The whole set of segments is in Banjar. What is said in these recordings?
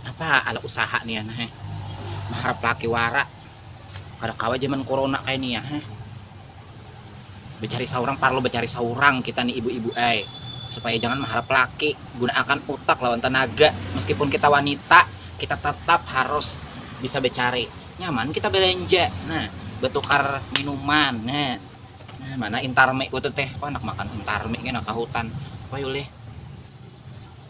Apa ala usaha nih anak eh. Maharap laki wara. Kada kawa zaman corona kayak nih ya. Eh. Becari seorang parlo becari seorang kita nih ibu-ibu eh. Supaya jangan maharap laki. Gunakan utak lawan tenaga. Meskipun kita wanita, kita tetap harus bisa becari. Nyaman kita belanja. Nah, betukar minuman. Nah, nah mana intarme ku teh. Oh, anak makan intarme ini anak kahutan. Wah, yulih.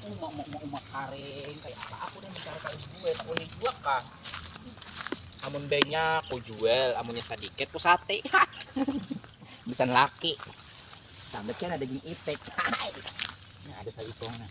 Umak umak umak umak karing kayak apa aku nih mencari kayu gue tak boleh juga kah amun banyak ku jual amunnya sedikit ku sate bisa laki sampai kan ada gini itik nah ada satu nah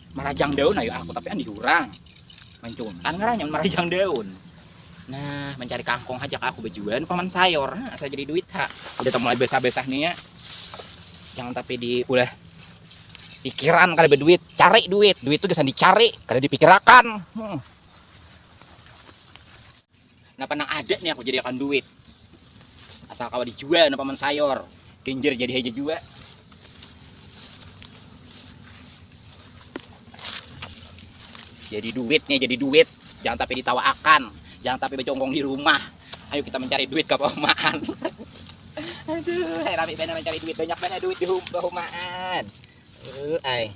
marajang daun ayo aku tapi andi urang mencuntan ngarannya marajang daun nah mencari kangkung aja aku bejuan paman sayur nah, saya jadi duit ha udah mulai besah-besah nih ya jangan tapi diulah pikiran kali berduit cari duit duit tuh bisa dicari kada dipikirakan hmm. Napa nang ada nih aku jadi akan duit. Asal kawa dijual napa man sayor. Genjer jadi haja jua. Jadi duit nih, jadi duit. Jangan tapi ditawaakan. Jangan tapi bercongkong di rumah. Ayo kita mencari duit ke perumahan. Aduh, hai rame benar mencari duit. Banyak banget duit di perumahan. Uh, ay.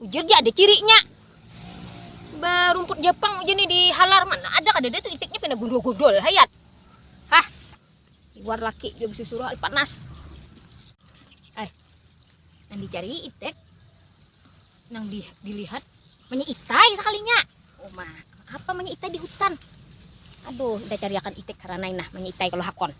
Ujar ja ada cirinya. Barumput Jepang ujar ni di halar mana ada kada ada tu itiknya pina gundul-gundul hayat. Hah. Luar laki jua bisusuruh panas. Ay. Nang dicari itik. Nang di, dilihat menyitai sekalinya. Oh mah, apa menyitai di hutan? Aduh, kita cariakan itik karena nah menyitai kalau hakon.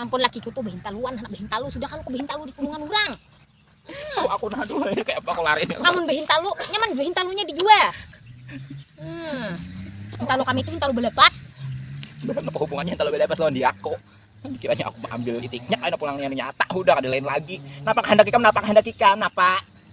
ampun lakiku tuh behintaluan anak behintalu sudah kan aku behintalu di kurungan orang tahu aku nah dulu ya kayak apa aku lari namun behintalu nyaman behintalunya di gua hmm. hintalu kami itu hintalu belepas apa hubungannya hintalu belepas lawan di aku kiranya aku ambil itiknya ada pulangnya nyata udah ada lain lagi napa kehendak ikam napa kehendak ikam napa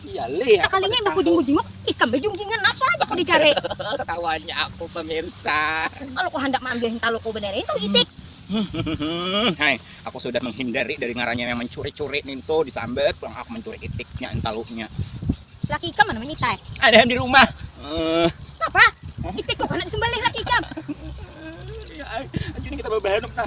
Iya leh. Sekalinya imbah ku jenguk-jenguk, ikam bejungkingan apa aja kau dicari. Ketawanya aku pemirsa. Kalau kau handak maambil hintalu kau benerin tau itik. Hai, aku sudah menghindari dari ngarannya yang mencuri-curi nintu disambat pulang aku mencuri itiknya hintalunya. Laki ikam mana menyita eh? Ada di rumah. Uh. Napa? Itik kok anak disembelih laki ikam? Iya, anjing kita bawa bahanuk nah.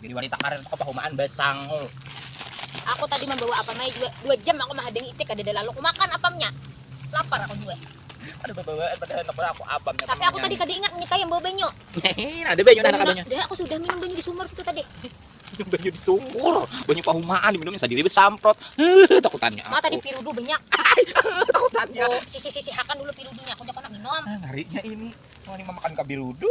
Jadi wanita karir itu kepahumaan basangul. Aku tadi membawa apam aja dua, dua jam aku menghadang icik ada lalu aku makan apamnya. Lapar aku juga. Ada bawaan pada anak aku apam. Tapi aku tadi kada ingat nyita yang bawa banyu. ada banyu anak banyu. Dah aku sudah minum banyu di sumur situ tadi. Minum banyu di sumur, banyu pahumaan diminumnya sendiri besamprot. Takutannya. Mata di pirudu banyak. Takutannya. Oh, sisi sisi hakan dulu pirudunya aku jangan minum. Ah, ngarinya ini. Mau ini memakan kabirudu.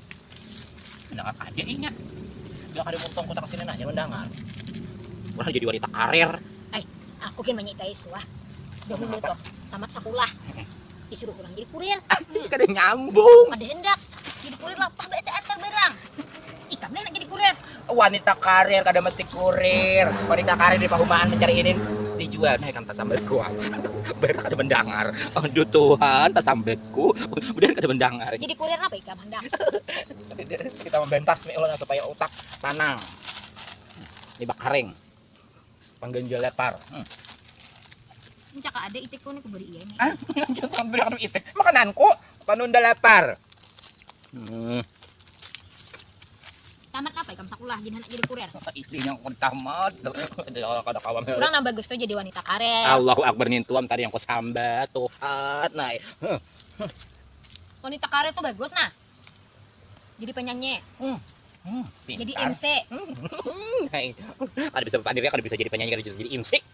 Anak apa aja ingat. Gak ada muntong kota kesini nanya lu dangar. Wah jadi wanita karir. Eh, aku kan menyitai suah. Dahulu tuh tamat sekolah. Disuruh kurang jadi kurir. Kada nyambung. Kada hendak. Jadi kurir lah. Pah bete antar barang. Ikam nih jadi kurir. wanita karir kada mesti kurir wanita karir di pahumaan mencari ini dijual nah ikan tasambekku bayar kada mendengar aduh Tuhan tasambekku bayar kada mendengar jadi kurir apa ikam hendak kita membentas nih ulun supaya utak tanang ini bakaring pangganjal lepar hmm. Mencaka ada itikku nih kuberi iya nih. Ah, itik makananku. Panunda lapar. Hmm. Tamat apa ikam sekolah jadi anak jadi kurir? Istrinya aku tamat. Kada kawan. Kurang nambah gusto jadi wanita karir. Allahu Akbar nintuam tadi yang kusamba Tuhan. Nah. Wanita karir tuh bagus nah. Jadi penyanyi. Hmm. Hmm, jadi MC. Hmm. Ada bisa berpandir ya, kada bisa jadi penyanyi, kada bisa jadi MC.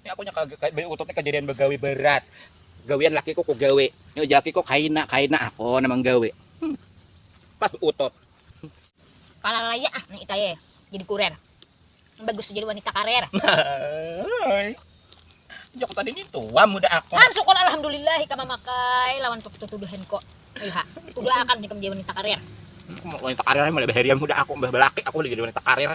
Ini aku nya beli utut nih kejadian begawi berat. Gawian lakiku ku gawe. Ini lakiku kaina kaina aku nang menggawe. Hmm. Pas utut. Kala laya ah nih itaye jadi kurer. Bagus jadi wanita karer. Jok tadi ini tua muda aku. Kan syukur alhamdulillah ikam memakai lawan tuduhan kok. Iya, kudu akan nih menjadi wanita karir. Wanita karir mulai baharian muda aku, belaki aku jadi wanita karir.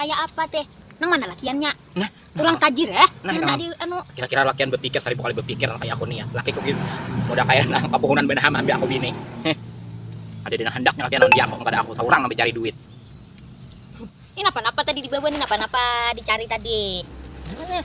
Kayak apa teh? Nang mana lakiannya? Nah, Ulang tajir eh. Nah, Nang tadi anu. Kira-kira lakian berpikir seribu kali berpikir kayak aku nih ya. Laki ku gini. Udah kayak nah kapuhunan benaham ambil aku bini. Heh. Ada dina handaknya lakian ambil aku kepada aku seorang ambil cari duit. Ini napa-napa tadi dibawa nih napa-napa dicari tadi. Nah.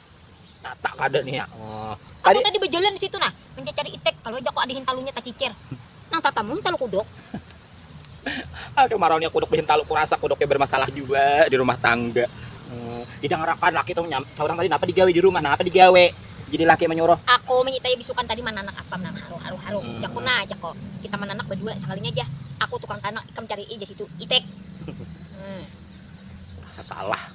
Tatak kada nih ya. Oh. Aku tadi, tadi berjalan di situ nah, mencari itek. Kalau aja kok ada hintalunya tak kicir. Nang tatamu hintalu kuduk. Aduh maraunya kuduk di hintalu kurasa kuduknya bermasalah juga di rumah tangga. Hmm. Didangarakan laki tuh nyam. Seorang tadi napa digawe di rumah, napa digawe. Jadi laki menyuruh. Aku menyitai bisukan tadi mananak apa nang haru haru haru. Hmm. Jaku nah, jaku. Kita mananak berdua sekalinya aja. Aku tukang tanak, ikam cari aja situ itek. Hmm. Salah.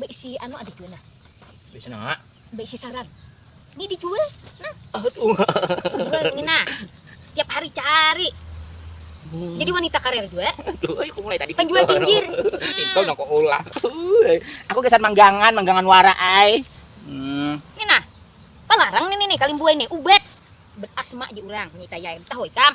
Beisi anu ada jua nah. Beisi nang ah. Beisi sarang. Ini dijual nah. Aduh. Dijual ini nah. Tiap hari cari. Hmm. Jadi wanita karir juga. Aduh, aku mulai tadi. Penjual jinjir. Itu nang kau ulah. Aku kesan manggangan, manggangan wara ai. Hmm. Ini nah. Palarang nih nih kalimbuai nih, ubat. Berasma di urang, nyita yaim. Tahu ikam?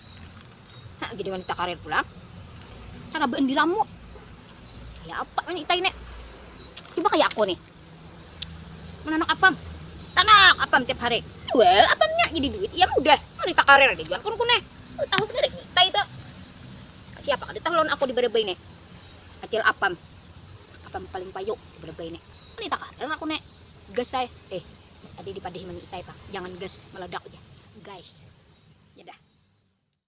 Hah, jadi wanita karir pulang. Cara beendiramu. Kayak apa wanita ini? Coba kayak aku nih. Menanok apam. Tanok apam tiap hari. Jual apamnya jadi duit. Ya mudah. Wanita karir aja jual kun kuneh. Lu tahu bener kita itu. Siapa kada tahu lawan aku di Berebay nih. Acil apam. Apam paling payu di Berebay nih. Wanita karir aku nih. gas ai eh tadi dipadahi mani itai pang jangan gas meledak ja guys ya dah.